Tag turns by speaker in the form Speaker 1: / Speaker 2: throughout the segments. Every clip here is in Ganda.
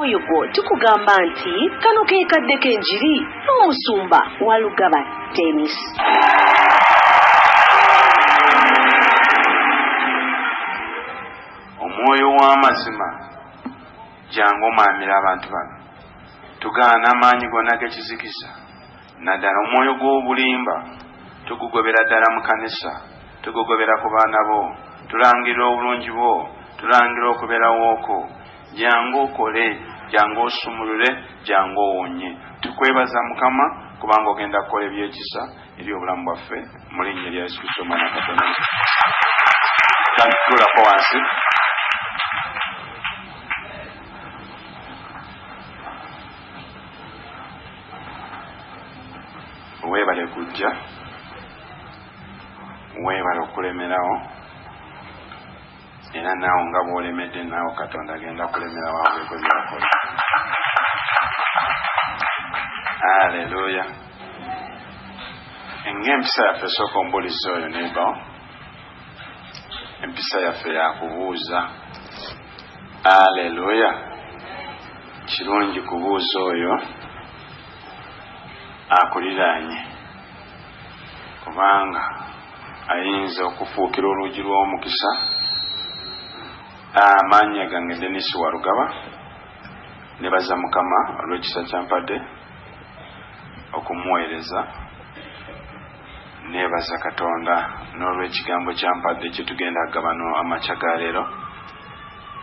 Speaker 1: Oyo gwo tukugamba nti kano ke kadde k'enjiri n'omusumba Walugaba Dennis.
Speaker 2: Omwoyo w'amazima jangu omaamire abantu bano tugaana amaanyi gonna g'ekizikiza naddala omwoyo gw'obulimba tugugobera ddala mu kanisa tugugobera ku baana bo tulangirira obulungi bwo tulangirira okubeerawooko Jangu okole, jangu osumulule, jangu owonye. Tukwebaza Mukama kubanga ogenda kukola ebyekisa eri obulamu bwaffe mu linnya erya Yesu Kristo omwana wa Katonda omutukuvu. Kati tulako wansi. Weebale kujja, weebale okulemerawo. Era naawe nga bw'olemedde, naawe Katonda agenda kulemera wawuleko by'akola. Aleluya! Ng'empisa yaffe esooka ombulizi oyo nebawo, empisa yaffe yakubuuza. Aleluya! Kirungi kubuuza oyo akuliraanye. kubanga ayinza okufuukira oluugi lw'omukisa amaanya gange denis warugaba nebaza mukama olw'ekisa kyampadde okumuweereza nebaza katonda n'olw'ekigambo kyampadde kyetugenda agabano amakya ga leero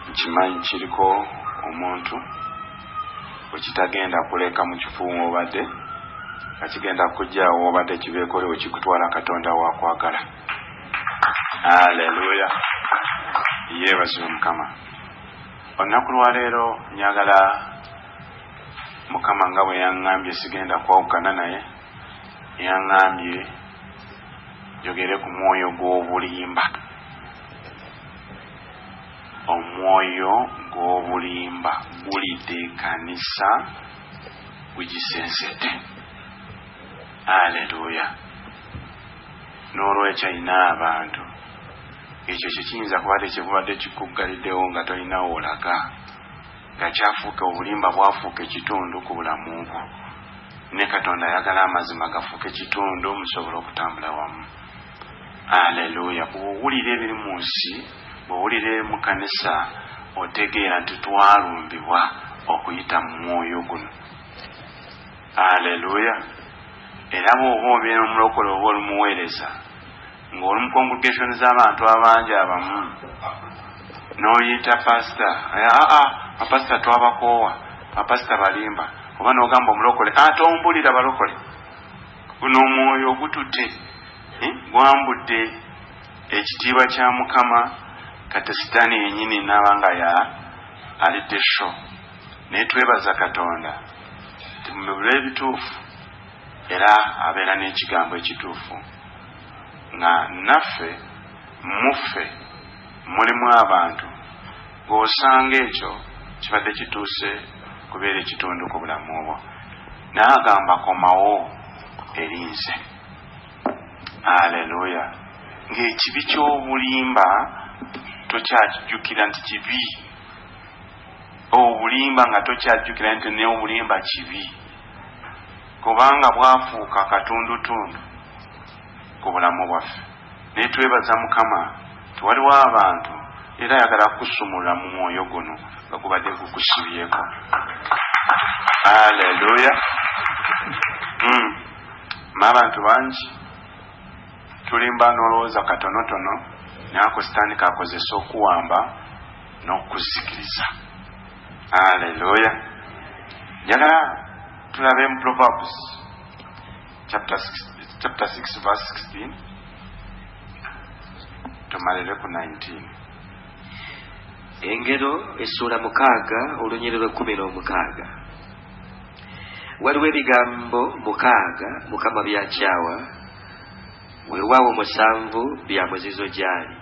Speaker 2: Nkimanyi kiriko omuntu gwe kitagenda kuleka mu kifo w'obadde, nga kigenda kujja awo w'obadde kibeekole we kikutwala Katonda w'akwagala. Aleluya! Yeebazibwe Mukama. Olunaku lwa leero njagala Mukama nga bwe yaŋŋambye sigenda kwawukana naye, yaŋŋambye njogere ku mwoyo gw'obulimba. Omwoyo gw'obulimba gulidde ekanisa, gugisensete. Aleluya! N'olwekyo, ina abantu, ekyo kye kiyinza kuba tekibubadde kikuggalidewo nga tolina wolaga, nga kyafuuka obulimba bwafuuka ekitundu ku bulamu bwo. Ne Katonda ayagala amazima gafuuke kitundu musobole okutambula wamu. Alleluia bwowulira ebiri munsi bwowulira ebiri mukanisa otegeera nti twalumbibwa okuyita mumwoyo guno Alleluia era bwoba obeera omulokole oba oli muweereza nga oli mu congregation zabantu abangi abamu noyita pasita aa bapasita twabakoowa bapasita balimba oba nogamba omulokole ate ombulira balokole guno omwoyo ogutute eh, gwambudde ekitiibwa kya mukama kati sitaani yenyini naaba nga ya alidde sho naye twebaza katonda timubula ebituufu era abeera n'ekigambo ekituufu nga naffe muffe Mulimu abantu b'osanga ekyo kibadde kituuse kubeera ekitundu ku bulamu bwo, naye agamba komawo eri nze. Aleluya! Ng'ekibi ky'obulimba tokyakijjukira nti kibi, obulimba nga tokyajjukira nti naye obulimba kibi, kubanga bwafuuka katundutundu. ku bulamu bwaffe naye twebaza mukama nti waliwo abantu era ayagala kukusumulula mu mwoyo guno nga gubadde gukusibyeko aleluya hmm. maabantu bangi tulimba nolowooza katonotono naako sitaani kakozesa okuwamba n'okuzikiriza aleluya njagala tulabe mu proverbs chapter 6, chapter 6 verse 16 tumalire ku 19
Speaker 3: engero essuula mukaaga olunyiri lw'ekkumi n'omukaaga waliwo ebigambo mukaaga mukama byakyawa weewaawo musanvu bya muzizo gy'ali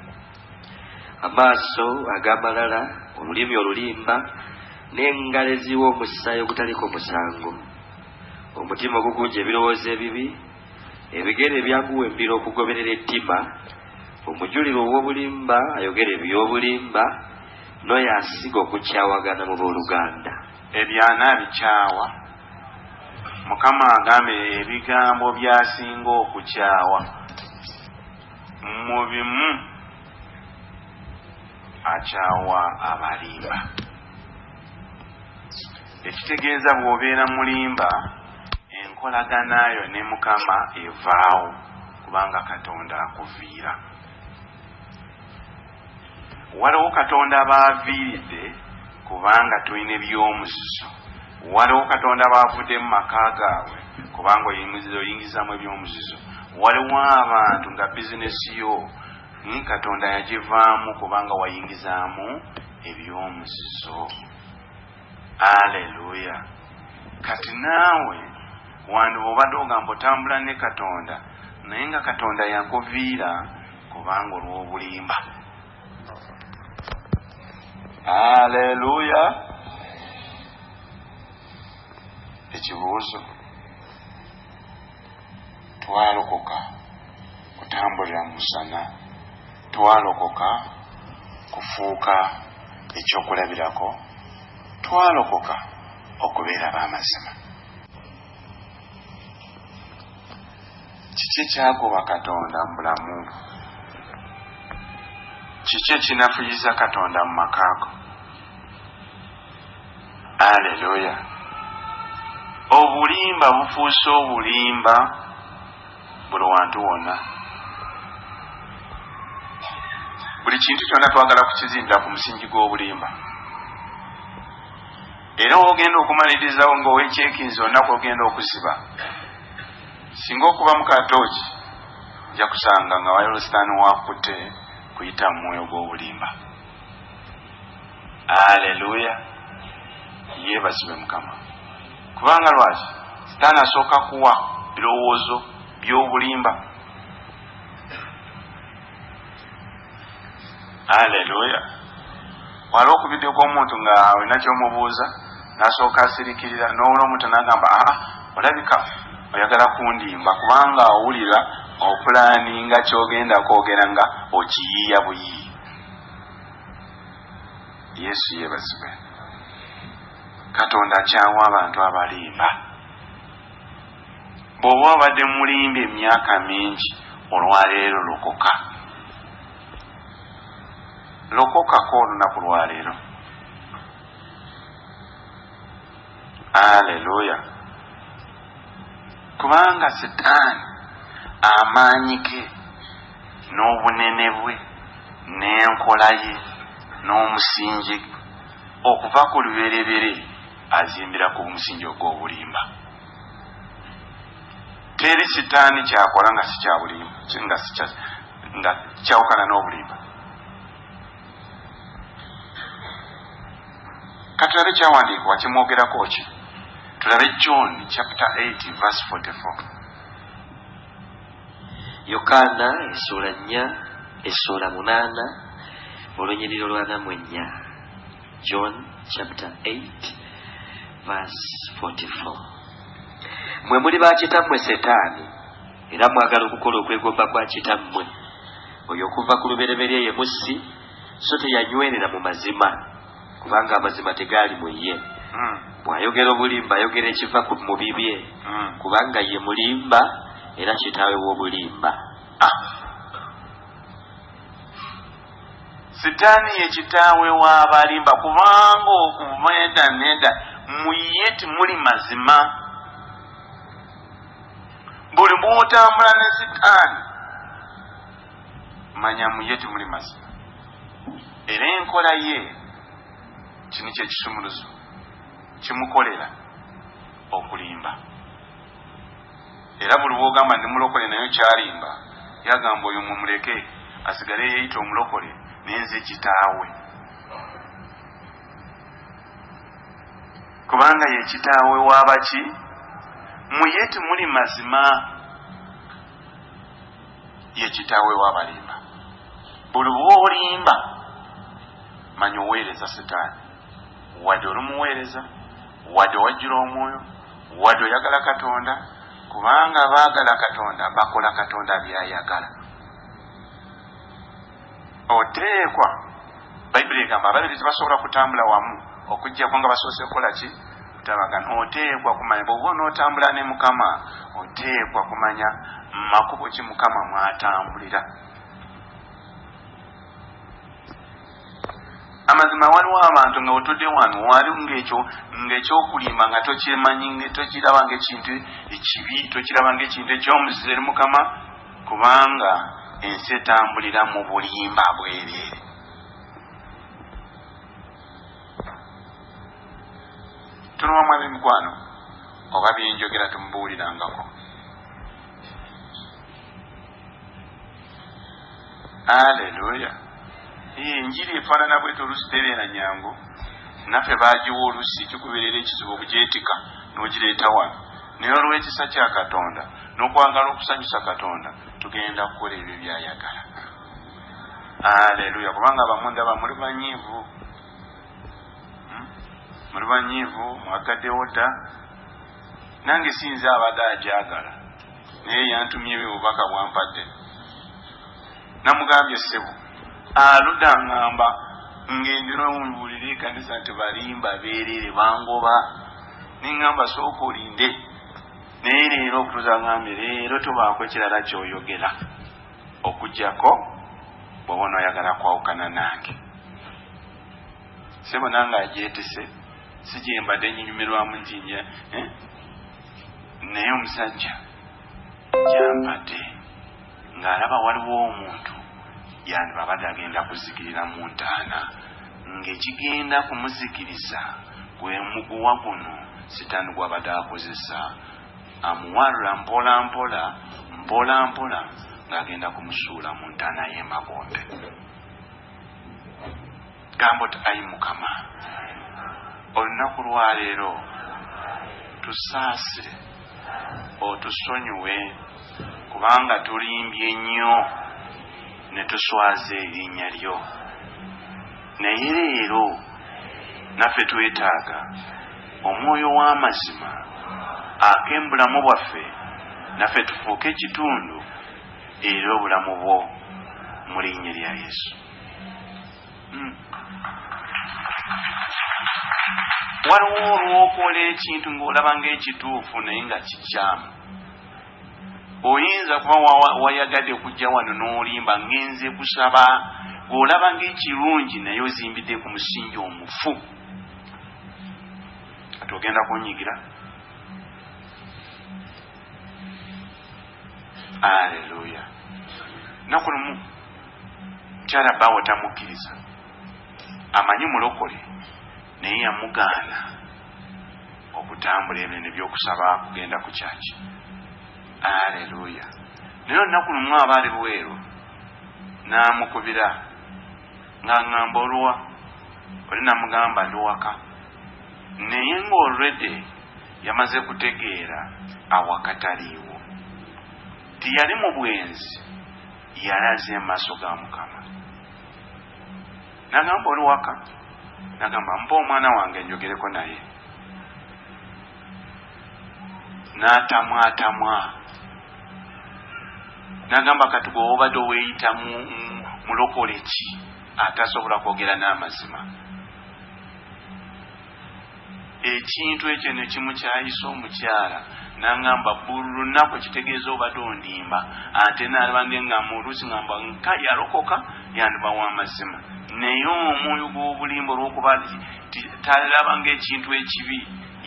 Speaker 3: amaaso ag'amalala olulimi olulimba n'engalo eziwa omusaayi ogutaliko musango Omutima ogugunja ebirowoozo ebibi, ebigere ebyaguwembira okugoberera ettima, omujulirwa ow'obulimba ayogera eby'obulimba, n'oyo asiga okukyawagana mu booluganda.
Speaker 2: Ebyana abikyawa. Mukama agambye ebigambo by'asinga okukyawa mu bimu akyawa abalimba. Ekitegeeza bwobeera mulimba enkolaganaayo ne mukama evaawo kubanga katonda akuviira. Waliwo katonda baaviiridde kubanga tulina ebyomuzizo. Waliwo katonda baavudde mu maka gaabwe kubanga oyingizamu ebyomuzizo. Waliwo abantu nga bizinesi yo katonda yagivaamu kubanga wayingizaamu. eby'omuzizo. Aleluya! Kati naawe wandiba obadde ogamba otambula ne Katonda, naye nga Katonda yakuviira kubanga olw'obulimba. Aleluya! Ekibuuzo. Twalokoka kutambulira mu musana. Twalokoka kufuuka eky'okulabirako. Twalokoka okubeera ab'amazima. Kiki ekyagoba Katonda mu bulamu bwo? Kiki ekinafuyiza Katonda mu maka go? aleluya obulimba bufuuse obulimba buli wantu wonna buli kintu kyonna twagala kukizimbira ku musingi gw'obulimba era ogenda okumalirizawo ngaowekyekinzi onaku ogenda okusiba singa okuba mukatooki nja kusanga nga wayolositaani wakutte kuyita mu mwoyo gw'obulimba aleluya yebazibwe mukama kubanga lwaki sitaani asooka kuwa birowoozo by'obulimba aleluya wala okubiddeko omuntu nga olina kyomubuuza nasooka asirikirira nowula omuntu nagamba aa ah, olabika oyagala kundimba kubanga owulira opulaninga kyogenda kwogera nga okiyiiya buyiiya yesu yebazibwe katonda akyawa abantu abalimba bwoba obadde mulimba emyaka mingi olwaleero lokoka lokokako olunaku lwaleero aleluya kubanga sitaani amaanyi ge n'obunene bwe n'enkola ye n'omusingi okuva ku luberebere azimbira ku musingi ogw'obulimba teri sitaani kyakola nga sikyabulimba nga kyawukana n'obulimba katulabe kyawandiikibwa kimwogerako ki tulabe john chapter 8 verse 44
Speaker 3: Yokaana essuula nnya essuula munaana olunyiriri olwanamu ennya John chapter 8 verse 44 mwe muli ba kitammwe setaani era mwagala okukola okwegomba kwa kitammwe oyo okuva ku lubereberye ye mussi so teyanywerera mu mazima kubanga amazima tegaali mu ye hmm. bw'ayogera obulimba ayogera ekiva mu bibye hmm. kubanga ye mulimba era kitaawe w'obulimba ah.
Speaker 2: sitaani ye kitaawe w'abalimba kubanga okuva eda neda mu ye timuli mazima buli bw'otambula ne sitaani manya mu ye timuli mazima era enkola ye kino kyekisumuluzo kimukolera okulimba era buli wogamba ndi mulokole nayo kyalimba yagamba oyo mumuleke asigale yeyita omulokole nenze kitaawe kubanga ye kitaawe wabaki muye timuli mazima ye kitawe wabalimba buli bwolimba manya oweereza sitaani wadde oli muweereza wadde wajjula omwoyo wadde oyagala katonda kubanga baagala katonda bakola katonda byayagala Oteekwa, Bayibuli egamba ababiri tebasobola kutambula wamu okuggyako nga basoose kukola ki? Kutabagana. Oteekwa kumanya bw'oba onootambula ne Mukama, oteekwa kumanya makubo ki Mukama mw'atambulira. amazima waliwo abantu nga wetudde wano wali ngaekyo ngaekyokulimba nga tokyemanyi tokiraba ngaekintu ekibi tokiraba ngaekintu ekyomuzize eri mukama Kubanga ensi etambulira mu bulimba bwereere. Tunowa mwami mikwano oba byenjogera temubuulirangako. Aleluya. Enjiri efaanana bwete oluusi tebeera nyangu, naffe baagiwa oluusi kikubeerera ekizibu okugyetika n'ogireeta wano. Naye olw'ekisa kya Katonda n'okwagala okusanyusa Katonda, tugenda kukola ebyo by'ayagala. Aleluya! Kubanga abamu ndaba muli banyiivu, hmm? muli banyiivu, mwagaddewo dda. Nange si nze abadde agyagala, naye yantumye obubaka bwampadde. namugambye ssebo aluda ngamba ngendera omubulire ekanisa nti balimba berere bangoba nengamba sooka olinde naye leero okutuza ngambye leero tobaako ekirala kyoyogera okujjako bwoba onoyagala kwawukana nange sebo nange ajetise sigyembadde nyinyumirwamu ntinya eh? naye omusajja gyambadde Ng'alaba waliwo omuntu gyandibabade agenda kuzikirira mu ntaana, ng'ekigenda kumuzikiriza gwe muguwa guno Sitaani gw'abadde akozesa amuwalula mpolampola mpolampola ng'agenda kumusuula mu ntaana y'emagombe. Gamba oti, Ai Mukama, olunaku lwa leero tusaasire otusonyiwe kubanga tulimbye nnyo ne tuswaza erinnya lyo. Naye leero naffe twetaaga omwoyo w'amazima ake mu bulamu bwaffe, naffe tufuuke ekitundu era obulamu bwo mu linnya lya Yesu. waliwo olwokola ekintu ngaolaba nga ekituufu naye nga kikyamu oyinza kuba wayagadde kujja wano n'olimba ngenze kusaba olaba nga ekirungi naye ozimbidde ku musingi omufu kati ogenda kunyigira aleluya naku lumu Mukyala baawe tamukkiriza amanyi mulokole naye yamugaana okutambula ebyo nebyokusaba kugenda ku kyaki aleluya naye olunaku lumu aba ali bweru namukubira nga ngamba oluwa oli namugamba ndi waka naye nga olredy yamaze kutegeera awakataliiwo tiyali mu bwenzi Yalaze amaaso ga Mukama nagamba oli waka nagamba mpa omwana wange njogereko naye natamwatamwa nagamba kati bwe wobadde oweyita mulokole ki atasobola kwogera n'amazima Ekintu ekyo ne kimukyayisa omukyala nangamba buli lunaku kitegeeza obadde ondimba ate nalaba ngengamba oluusi ngamba nka yalokoka yandiba wa mazima naye omwoyo gw'obulimba olwokuba ti talaba ngaekintu ekibi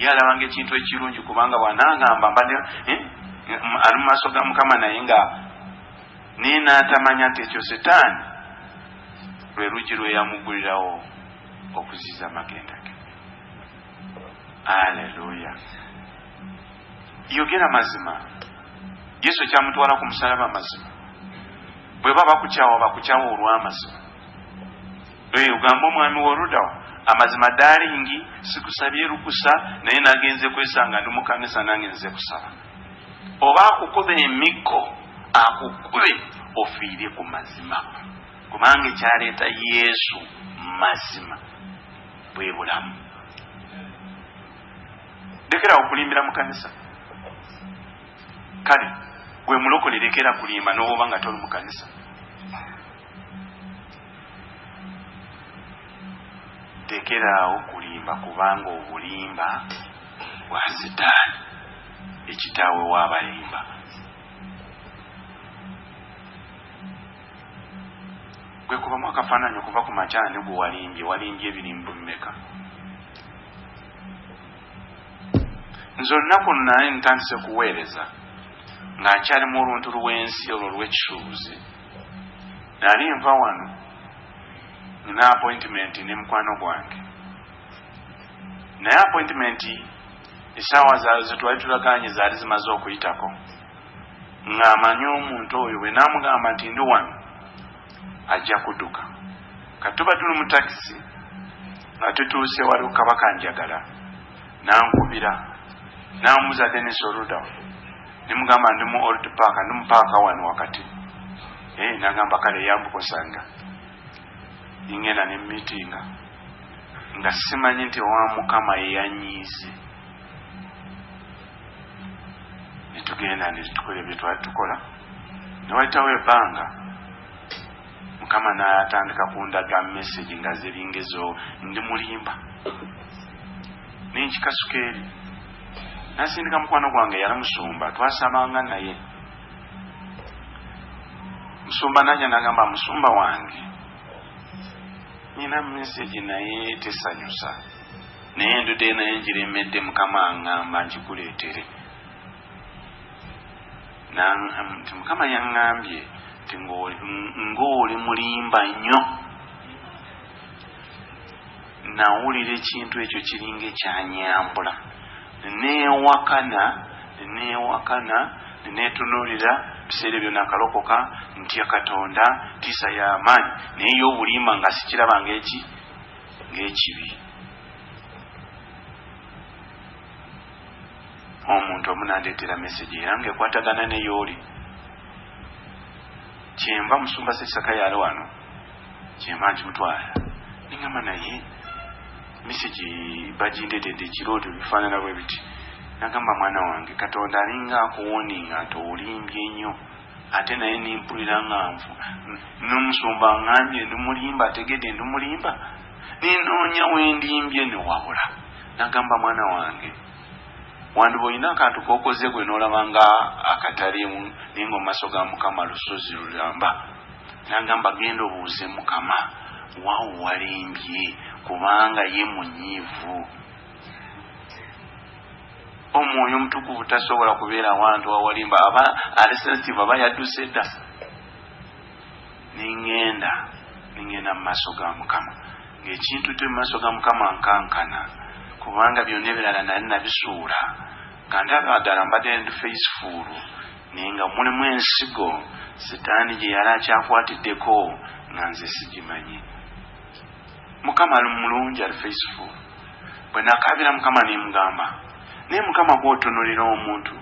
Speaker 2: ye alaba ngaekintu ekirungi kubanga bwanangamba mbadde eh, ali mu maaso ga mukama naye nga naye natamanya nti ekyo setaani lwe lugi lweyamugulirawo okuziza amagenda ge aleluya yogera mazima yesu kyamutwala ku musalaba mazima bweba bakukyawa bakukyawa olwamazima ogamba omwami woludawo amazima dalingi sikusabye lukusa naye nagenze kwesanga ndi mukanisa nange nze kusaba oba akukuba emiggo akukube ofiire ku mazima Kubanga ekyaleeta Yesu mazima bwe bulamu. Lekera okulimbira mu kanisa. Kale gwe mulokole lekera kulimba n'oba nga toli mu kanisa. Tekeraawo kulimba kubanga obulimba bwa sitaani ekitaawe w'abalimba. Gwe kubamu akafaananyi okuva ku makya ani gwe walimbye? Walimbye ebirimbo bimeka? Nze olunaku luno nali ntandise kuweereza nga nkyali mu oluntu lw'ensi olwo olw'ekisuubuzi. Nali nva wano nina apointimenti ne mukwano gwange, naye apointimenti esaawa ze twali tulagaanye zaali zimaze okuyitako. ng'amanyi omuntu oyo bwe naamugamba nti ndi wano ajja kuduka ka tuba tuli mu takisi nga tutuuse waliwo kabaka njagala nankubira namubuza denis oluda nimugamba ndi mu old park ndi mupaaka wano wakati eh, nagamba kale yambukosanga ingenda ne mitinga nga simanyi nti owa mukama yeyanyiize ne tugenda ne tukola ebyo twali tukola ne wayitawo ebbanga mukama n'atandika kundaga message nga ziringa ezo ndi mulimba nenkikasuka eri nasindika mukwano gwange yali musumba twasabanga naye musumba naja nagamba musumba wange nyina message naye tesanyusa Naye endude nayo njiremedde mukama angamba njikuletere nti mukama yangambye nti ngaoli mulimba nnyo nawulira ekintu ekyo kiringa ekyanyambula newakana newakana netunulira biseera ebyo nakalokoka ntya katonda tiisa yamaanyi naye yobulimba nga sikirabanga eki ng'ekibi omuntu omu nandeetera mesegi era ngaekwatagana neyooli kyenva musumba sesaka yali wano kyenva nti mutwala nengamba naye mesegi bagindeetedde ekiro otyo bifaanana bwe biti nagamba mwana wange katonda alinga akuwoninga nti olimbye nnyo Ate naye nempulira nga nfu nomusumba angambye ndi mulimba ategede ndi mulimba nenoonya wendimbye newabula nagamba mwana wange wandiba olina akantu kokoze gwe nolaba nga akatalimu naye nga omumaso ga mukama lusozi lulamba nagamba genda obuuze mukama wawo walimbye kubanga ye munyiivu Omwoyo omutukuvu tasobola kubeera wantu awali mba aba ali sensitive aba yadduse dda ningenda ningenda mu maaso ga mukama ngaekintu te mu maaso ga mukama nkankana kubanga byonna ebirala nali nabisuula nga ndaba ddala mbadde ndi faisifuulu naye nga mulimu ensigo sitaani gye yali akyakwatiddeko nga nze sigimanyi Mukama ali mulungi ali faithful bwe nakaabira Mukama ne mugamba naye Mukama gwotunulira omuntu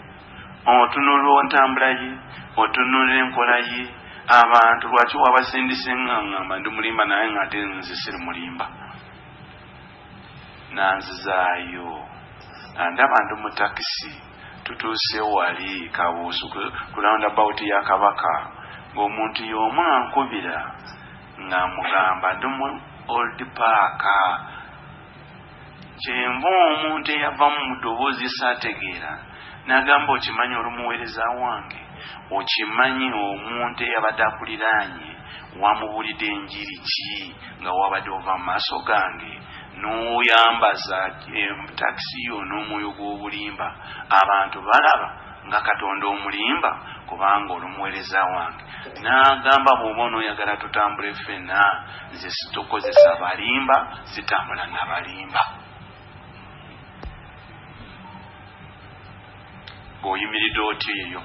Speaker 2: otunulira ontambula ye otunulira enkola ye abantu lwaki wabasindise nga ngamba ndi mulimba naye nga ate nze siri mulimba nanzizaayo andaba ndi mu takisi tutuuse wali kabuusu ku round about ya kabaka ng'omuntu y'omu ankubira Nga mugamba ndi mu old paaka kyenva omuntu eyavamu mudobozi sategeera nagamba okimanyi oli muwereza wange okimanyi omuntu eyabadde akuliraanye wamubulidde enjiri ki nga wabadde ova mu maaso gange noyambaza eh, takisi yo n'omwoyo gw'obulimba abantu balaba nga Katonda omulimba, kubanga oli omuweereza wange. N'agamba, Bw'oba onooyagala tutambule ffenna, nze situkozesa balimba, sitambula na balimba. Ng'oyimiridde otyo eyo.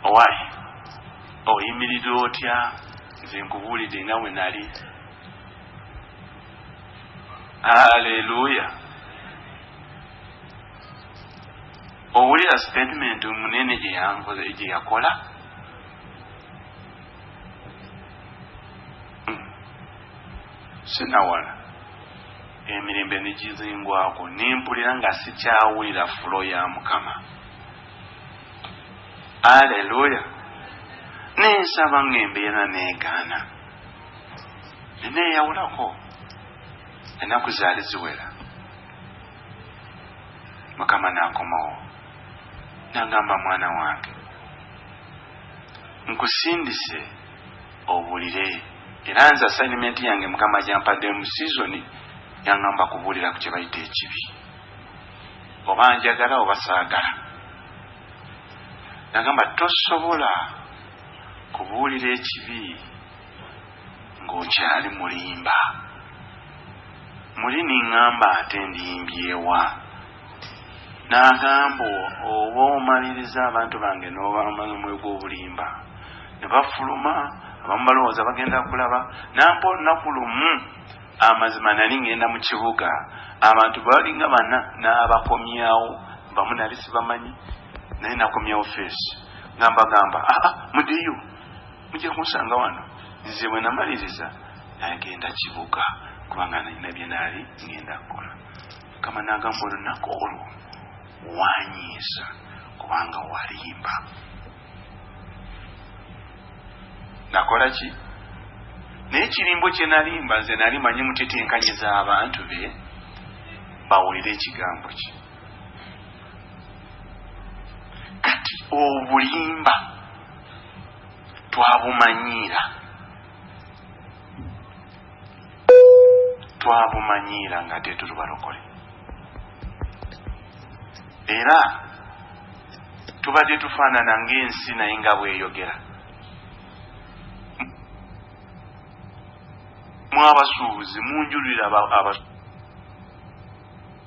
Speaker 2: Owaaye, oyimiridde otya? Nze nkubuulidde nga bwe nali. aleluya owulira statement munene gyeyakola hmm. sinawala emirembe negizingwako nempulira nga sikyawulira fulo ya mukama aleluya nensaba nga embeera negaana neneeyawulako ennaku zaali ziwera mukama naakomawo nangamba mwana wange nkusindise obuulire era nze assignment yange mukama gyampadde mu sizoni yangamba kubuulira ku kyebayita ekibi oba njagala oba saagala nagamba tosobola Kubuulira ekibi ng'okyali mulimba. Muli ningamba ate ndimbye wa? N'agamba, Oba omalirizza abantu bange n'obamala omwoyo gw'obulimba? Ne bafuluma, abamu balowooza bagenda kulaba. N'ampa olunaku lumu, amazima nali ngenda mu kibuga, abantu bwe balinga bana n'abakomyawo, bamu nali sibamanyi. naye nakomyewo feesi nga mbagamba aa ah, ah, mudiyu mujja kunsanga wano nze bwe namaliriza nagenda kibuga kubanga nalina byenaali ngenda kukola mukama nagamba olunaku olwo wanyiisa kubanga walimba nakola ki naye kirimbo kyenalimba nze nali manyi mutitenkanye z'abantu be bawulire ekigambo kye kati obulimba twabumanyiira twabumanyiira nga ate tuli balokole era tubadde tufaanana ng'ensi naye nga bweyogera mwabasuubuzi munjulira abasuubuzi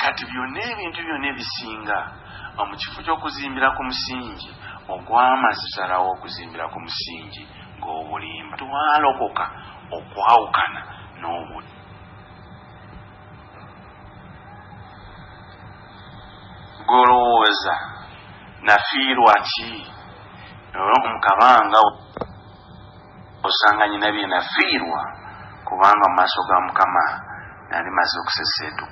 Speaker 2: Kati byonna ebintu byonna ebisinga mu kifo ky'okuzimbira ku musingi ogw'amazzi salawo okuzimbira ku musingi ng'obulimba twalokoka okwawukana n'obudde golowooza nafiirwa ki mu kabanga osanga nyina bye nafiirwa kubanga mu maaso ga mukama nali maze okuseseetu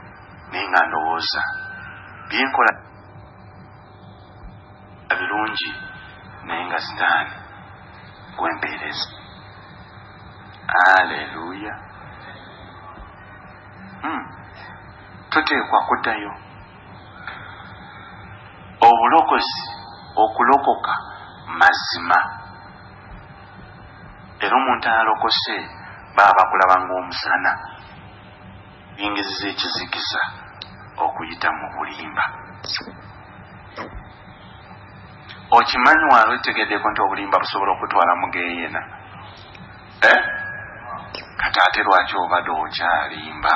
Speaker 2: naye nga ndowooza byenkola birungi naye nga sitaani gwempeereza aleluya hmm. tuteekwa kuddayo obulokozi okulokoka mazima Era omuntu alokose baba bakulaba ng'omusana. Yingiziza ekizikiza okuyita mu bulimba. Okimanyi wali otegedeko nti obulimba busobola okutwala mu geyena? Eh? Kati ate lwaki obade okyalimba?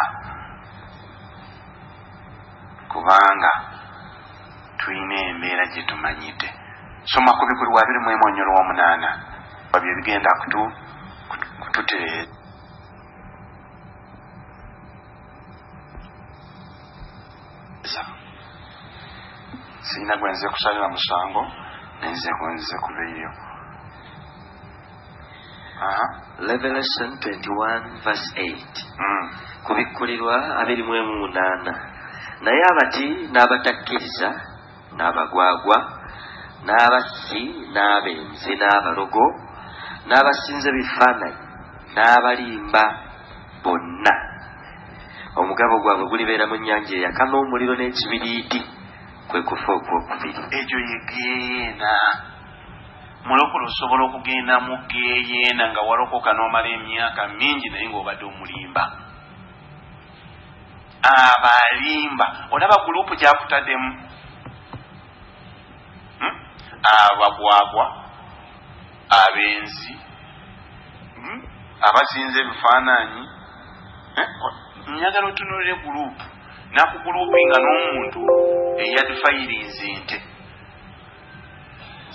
Speaker 2: Kubanga. Tulina embeera gye tumanyidde. Soma ku bikulwa abiri mu emu onyolo wa munaana wa bye bigenda kutu kututereeza. Sirina gwe nze kusalira musango, naye nze gwe nze kubeyo.
Speaker 3: Revelation 21 verse 8 kubikkulirwa abiri mu emu munaana naye abati n'abatakkiriza n'abagwagwa n'abassi n'abenzi n'abalogo n'abasinza ebifaananyi n'abalimba bonna omugabo gwabwe gulibeera mu nnyanja eyaka n'omuliro n'ekibiriiti kwe kufa okwokubiri ekyo
Speaker 2: yegeena Mulokole osobola okugenda mu geyeena nga walokoka nomala emyaka mingi naye nga obadde omulimba. Abo alimba olaba gulupu gyakutademu hmm? abagwagwa abenzi hmm? abasinza ebifaananyi eh? njagala otunulire gulupu nakugulupu nga n'omuntu eyadifayiriizi nte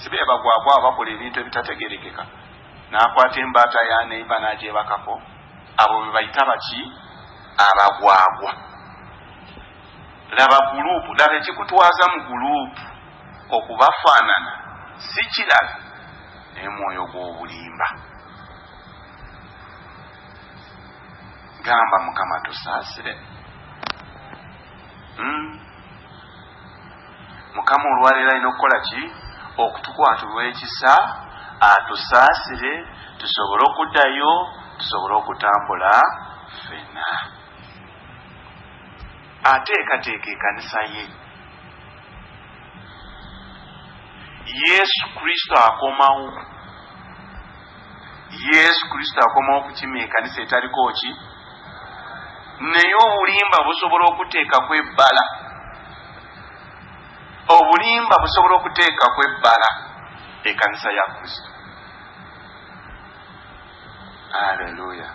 Speaker 2: sibebagwagwa abakola ebintu ebitategerekeka nakwata embaata ya neiba najebakako abo bebayita baki abagwagwa laba gulupu laba ekikutwaza mu gulupu okubafaanana si kirala naye mwoyo gw'obulimba gamba mukama tusaasire mm. mukama olwaleero alina okukola ki okutukwatulwa ekisa atusaasire tusobole okuddayo tusobole okutambula fena ateekateeka ekanisa ye yesu kristo akomawo yesu kristo akomawo kukima ekanisa etaliko ki naye obulimba busobola okuteekaku ebbala obulimba busobola okuteekaku ebbala ekanisa ya kristo aleluya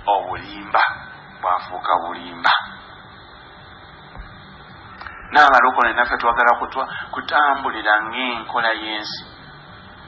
Speaker 2: obulimba bwafuuka bulimba n'abalokole naffe twagala kutwa kutambulira ng'enkola y'ensi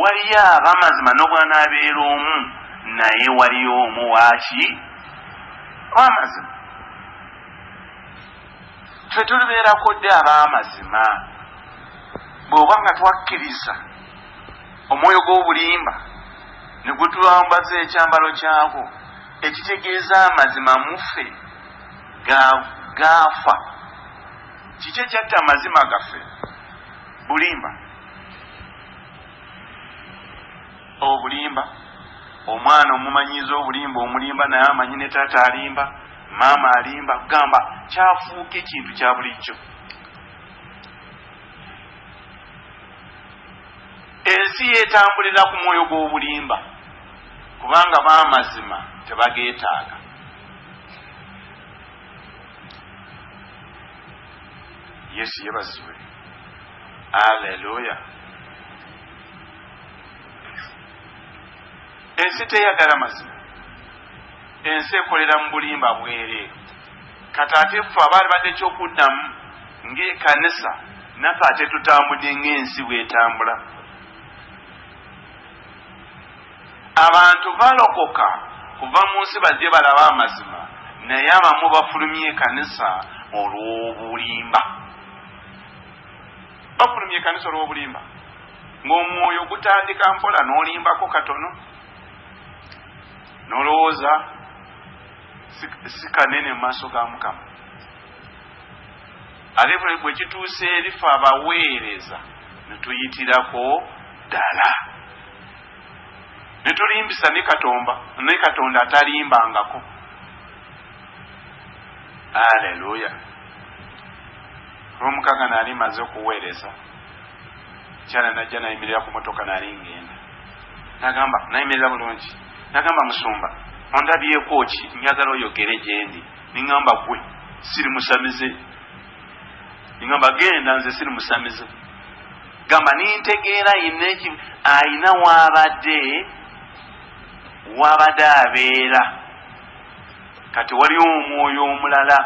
Speaker 2: waliyo abamazima nobwanabeera omu naye waliyo omu waki wamazima fe tulibeerako dde abamazima bweoba nga twakkiriza omwoyo gw'obulimba ne gwetulwambaza ekyambalo kyagwo ekitegeeza amazima muffe gaafa kiki ekyatta amazima gaffe Bulimba obulimba omwana omumanyiza obulimba omulimba naye amanyi ne taata alimba maama alimba kugamba kyafuuka ekintu kya bulijjo ensi yetambulira ku mwoyo gw'obulimba kubanga bamazima tebageetaaga yesu yebazibwe Alleluia ensi teyagala mazima ensi ekolera mu bulimba bwereere kati ate ffe abaali badde ekyokuddamu ng'ekanisa naffe ate tutambudde ng'ensi bwetambula Abantu balokoka kuva mu nsi bajje balabe amazima naye abamu bafulumya ekanisa olw'obulimba. Bafulumya ekanisa olw'obulimba ng'omwoyo gutandika mpola n'olimbako katono n'olowooza si kanene mu maaso ga Mukama. Ate bwe kituuse erifa abaweereza ne tuyitirako ddala. ne tulimbisa ne katomba ne katonda atalimbangako aleluya olwomukaga naali maze okuweereza kyala najja nayimirira ku motoka naali ngenda nagamba nayimirira bulungi nagamba musumba ondabyeko ki njagala oyogere gyendi ningamba gwe siri musamize ningamba genda nze siri musamize gamba nintegeera yina eki ayina wabadde wabadde abeera kati waliwo omwoyo omulala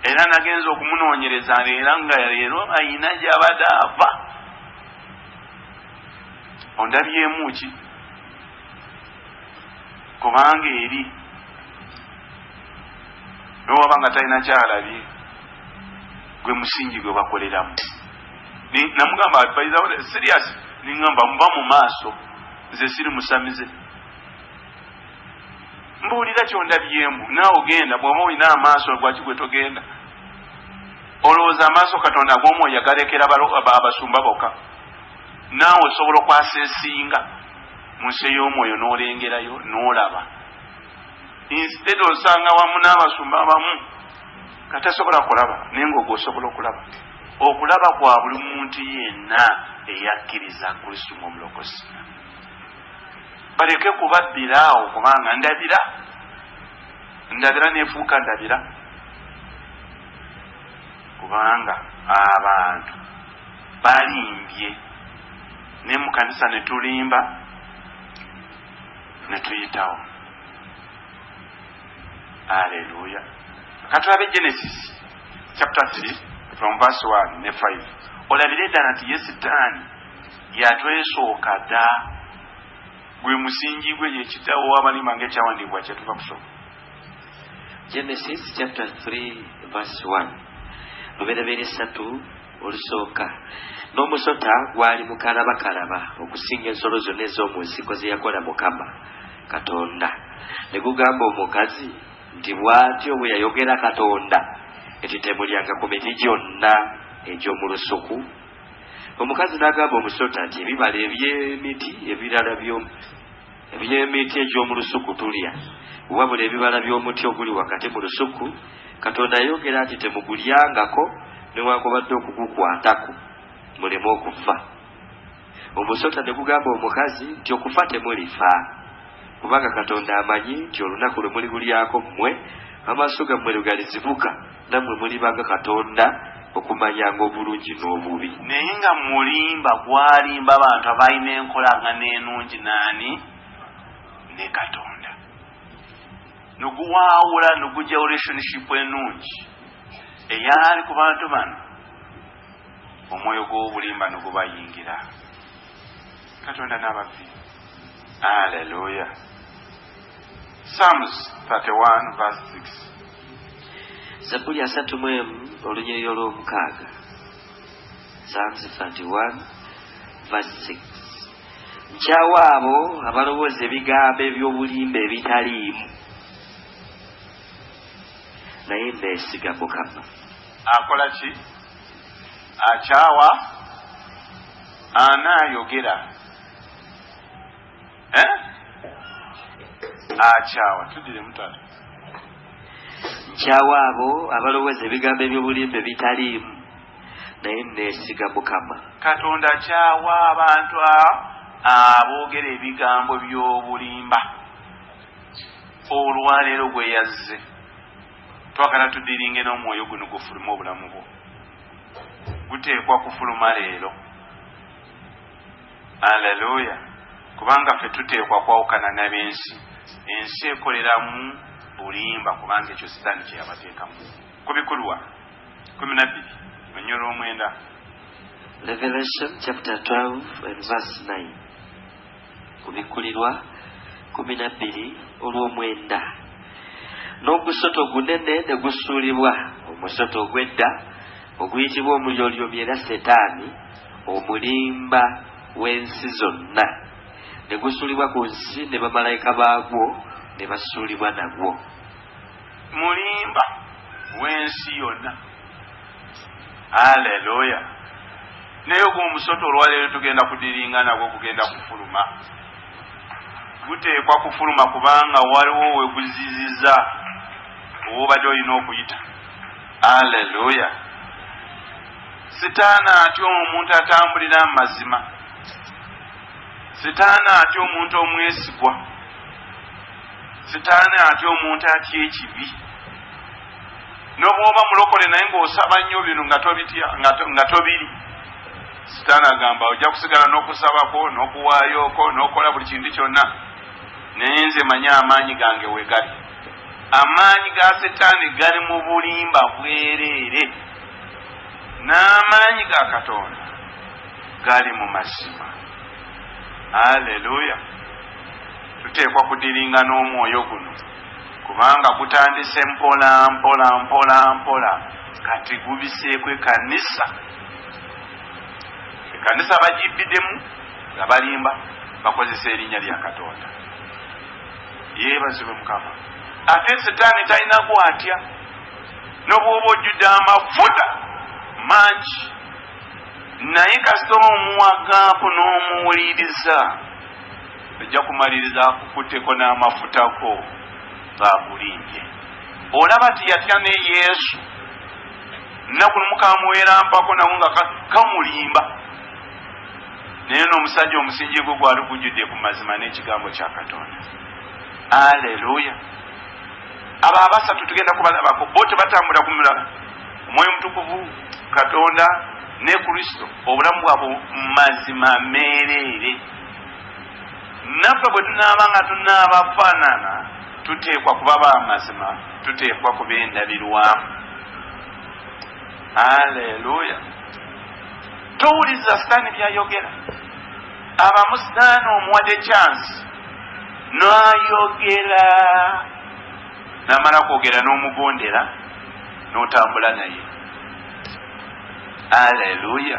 Speaker 2: era nagenza okumunonyereza era nga leero ayina gyabadde ava ondabyemu ki kubanga eri nowaba nga talina kyalabye gwe musingi gwe bakoleramu namugamba advise awo serious ningamba muba mu maaso nze siri musamize mbuulira kyondabyemu naawe ogenda bwoba olina amaaso lwaki gwe togenda olowooza amaaso katonda ag'omwoyo agalekera abasumba boka naawe osobola okwasa esinga mu nsi ey'omwoyo n'olengerayo n'olaba instead osanga wamu n'abasumba abamu nga tasobola kulaba naye ngaogwosobola okulaba okulaba kwa buli muntu yenna eyakkiriza kristo ngaomulokozi baleke kubabbira awo kubanga ndabira ndabira nefuuka ndabira kubanga abantu balimbye naye mukanisa netulimba netuyitawo aleluya katulabe genesis chapter 3 from verse 1 ne 5 olabire ddala nti ye sitaani yatwesooka dda gwe musingi gwe yekitawo wabalima nga ekyawandiikibwa kyetuva kusoma genesis
Speaker 3: chapter 3 verse 1 lubereberye satu olusooka n'omusota gwali mukalabakalaba okusinga ensolo zonna ez'omu nsiko ze yakola mukama katonda ne gugamba omukazi Nti bw'atyo bwe yayogera Katonda nti, Temulyanga ku miti gyonna egy'omu lusuku. Omukazi n'agamba omusota nti, Ebibala eby'emiti ebirala eby'emiti egy'omu lusuku tulya, wabula ebibala by'omuti oguli wakati mu lusuku, Katonda yayogera nti, Temugulyangako newankubadde okugukwatako, muleme okufa. Omusota ne gugamba omukazi nti, Okufa temulifa, kubanga Katonda amanyi nti olunaku lwe muligulyako mmwe amaaso gammwe lwe galizibuka, nammwe muliba nga Katonda okumanyanga obulungi n'obubi. Naye nga
Speaker 2: mulimba gwalimba abantu abalina enkolagana enungi n'ani? Ne Katonda. Ne guwaawula ne gujjawo relationship enungi eyali ku bantu bano. omwoyo gw'obulimba ne gubayingira. Katonda n'ababbi. Aleluya. Psalms 31 verse
Speaker 3: 6. Zabbuli asatu mu emu olunyiriri olw'omukaaga. Psalms 31 verse 6. Nkyawa abo abalowooza ebigambo eby'obulimba ebitaliimu. naye nneesiga mukama Akola
Speaker 2: ki? Akyawa? Ana ayogera? Eh? Akyawa. Tudire mutata. Nkyawa
Speaker 3: abo abalowooza ebigambo eby'obulimba ebitaliimu naye neesiga mukama katonda kyawa
Speaker 2: abantu aboogera ebigambo by'obulimba olwaleero gwe yazze Twagala tudiringe n'omwoyo guno gufulume obulamu bwo. Guteekwa kufuluma leero. Aleluya. Kubanga ffe tuteekwa kwawukana n'abensi. Ensi ekoleramu bulimba kubanga ekyo sitaani kye yabateekamu. Ku bikulwa kumi na bbiri onyolo omwenda.
Speaker 3: Revelation chapter 12 and verse 9. Kubikkulirwa kkumi na bbiri olw'omwenda. N'ogusota ogunene ne gusuulibwa, omusota ogw'edda oguyitibwa Omulyolyomi era Setaani, omulimba w'ensi zonna, ne gusuulibwa ku nsi ne bamalayika baagwo ne basuulibwa nagwo.
Speaker 2: mulimba wensi yonna aleluya naye ogwo omusota olwaleero tugenda kudiringa nagwo gugenda kufuluma guteekwa kufuluma kubanga waliwo weguziziza owobadde olina okuyita aleluya sitaana atya omuntu atambulira mu mazima sitaana atya omuntu omwesigwa sitaani atya omuntu atya ekibi nobwoba mulokole naye ngaosaba nnyo bino nga tobiri sitaani agamba ojja kusigala nokusabako nokuwayoko nokola buli kintu kyonna naye nze manyi amaanyi gange wegali amaanyi ga sitaani gali mu bulimba bwereere n'amaanyi ga katonda gali mu mazima aleluya Tuteekwa kudiringa n'omwoyo guno kubanga gutandise mpola mpola mpola mpola kati gubiseeko ekanisa ekanisa bagibbidemu nga balimba bakozesa erinnya lya katonda yeebazibwe mukama ate sitaani talina gwatya nobwoba ojjudde amafuta mangi naye kasita omuwagaako n'omuwuliriza ojja kumaliriza akukutteko n'amafutako ng'akulimbye olaba nti yatya ne yesu nnaku nomukamuwerampako nawo nga kamulimba naye n'omusajja omusingi gwe gwali gujjudde ku mazima n'ekigambo kya katonda aleluya abo abasatu tugenda kubalabako bo tebatambula ku mulala omwoyo omutukuvu katonda ne kristo obulamu bwabwe mazima meereere Naffe bwe tunaaba nga tunaabafaanana, tuteekwa kuba ba mazima, tuteekwa kuba endabirwamu. Aleluya! Towuliriza sitaani byayogera. Abamu sitaani omuwadde kyansi n'ayogera n'amala kwogera n'omugondera n'otambula naye. Aleluya!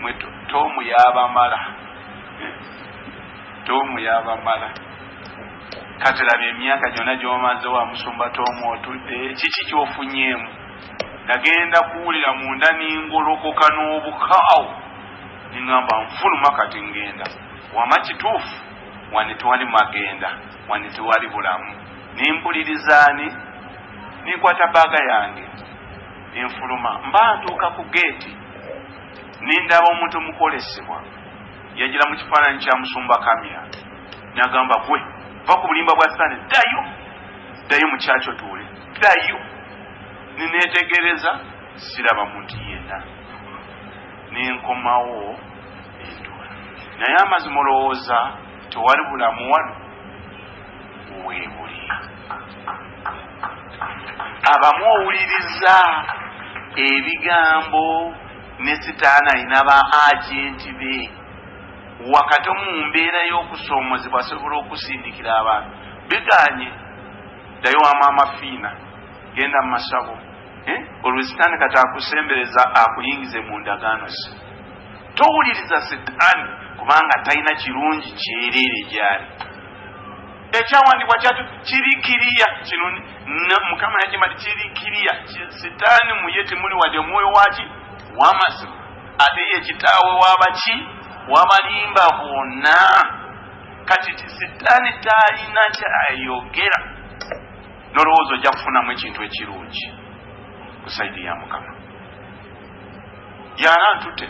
Speaker 2: mwe tomu yabamala tomu yabamala kati laba emyaka gyona gyomaze wa musumba tomu otudde kiki kyofunyemu nagenda kuwulira munda ningolokoka n'obukaawo ningamba nfuluma kati ngenda wama kituufu wani tewali magenda wani tewali bulamu nimpulirizaani ninkwata baaga yange nenfuluma mba ntuuka ku geeti nendaba omuntu omukolesebwa yajira mu kifaananyi kya musumba kamya nagamba gwe va ku bulimba bwa sitaani ddayo ddayo mu kyakyo tuule ddayo nineetegereza siraba muntu yenna nenkomawo entuula naye amazima olowooza tewali bulamu wano weebuli abamu owuliriza ebigambo ne sitaani alina ba agenti be wakati omu mu mbeera y'okusoomozebwa asobola okusindikira abantu biganye ddayo wa maama fiina genda mu masabo eh? olwo sitaani kati akusembereza akuyingize mu ndagaano ze towuliriza sitaani kubanga talina kirungi kyereere gyali ekyawandibwa kyatu kiri kiriya kino mukama yakima ti kiri kiriya sitaani muye temuli wadde omwoyo waki wamazima ate ye kitaawe wabaki wabalimba bwonna kati ti sitaani talina kyayogera nolowooza ojja kufunamu ekintu ekirungi kusaidi ya mukama yara ntute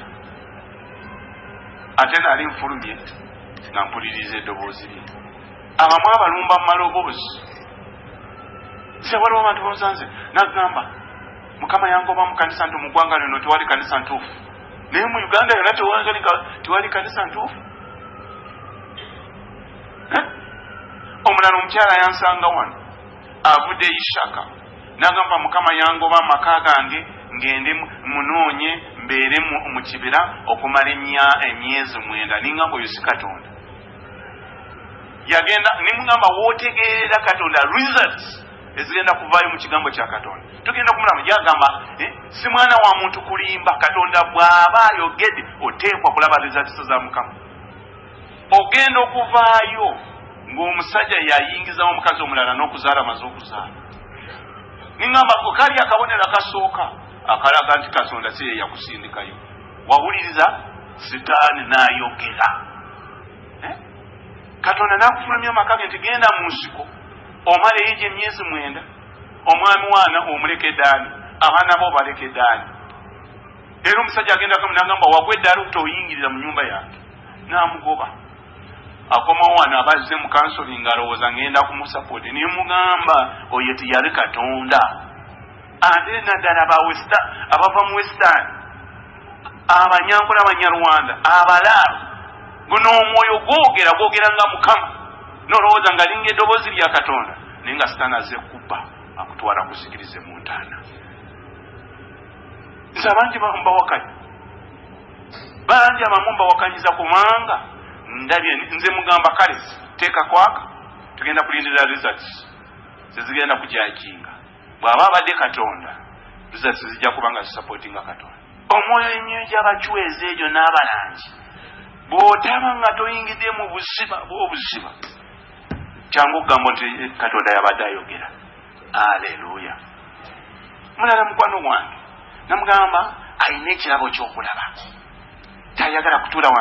Speaker 2: ate naali nfulumye nga mpuliriza eddoboozi lye abamu abalumba mu maloboozi se waliwo abantu babusanze nagamba mukama yangoba mu kanisa nti mu ggwanga lino tewali kanisa ntuufu naye mu uganda yona tewali kanisa ntuufu omulala omukyala yansanga wano avudde ishaka nagamba mukama yangoba amaka gange ngende munoonye mbeere mu kibira okumala emyezi mwenda ningamba oyo si katonda yagenda nimugamba wotegeerera katonda results ezigenda kuvaayo mu kigambo kya katonda tugenda kumulamu gyagamba eh, si mwana wa muntu kulimba katonda bw'aba ayogede oteekwa kulaba results za mukama ogenda okuvaayo ng'omusajja yayingizamu omukazi omulala n'okuzaala amaze okuzaala niŋamba kali akabonero akasooka akalaga nti katonda si ye yakusindikayo wawuliriza sitaani n'ayogera eh? katonda n'akufulumya amaka ge nti genda mu nsiko omala eyo gye myezi mwenda omwami waana omuleke daani abaana bo baleke daani Era omusajja agenda kamu nagamba wagwa eddaala otoyingirira mu nyumba yange namugoba akomawo wano aba azze mu kansoli nga alowooza ngenda kumusapooti naye mugamba oyo tiyali katonda ate naddala bawesta abava mu westan abanyankola abanyarwanda abalaalo guno omwoyo gwogera gwogera nga mukama nolowooza nga linga eddoboozi lya katonda naye nga sitaani azze kubba akutwala kusikirize mu ntaana nti abangi abamu bawakanya bangi abamu mbawakanyiza kubanga ndabye nze mugamba kale teeka kwaka tugenda kulindira results zezigenda kujakinga bw'aba abadde katonda results zijja kuba nga zisupportinga katonda omwoyo emyoyo gy'abacwezi egyo n'abalangi bw'otaba nga toyingidde mu buziba bw'obuziba kyangu okugamba nti katonda yabadde ayogera aleluya mulala mukwano gwange namugamba alina ekirabo kyokulaba tayagala kutuula wansi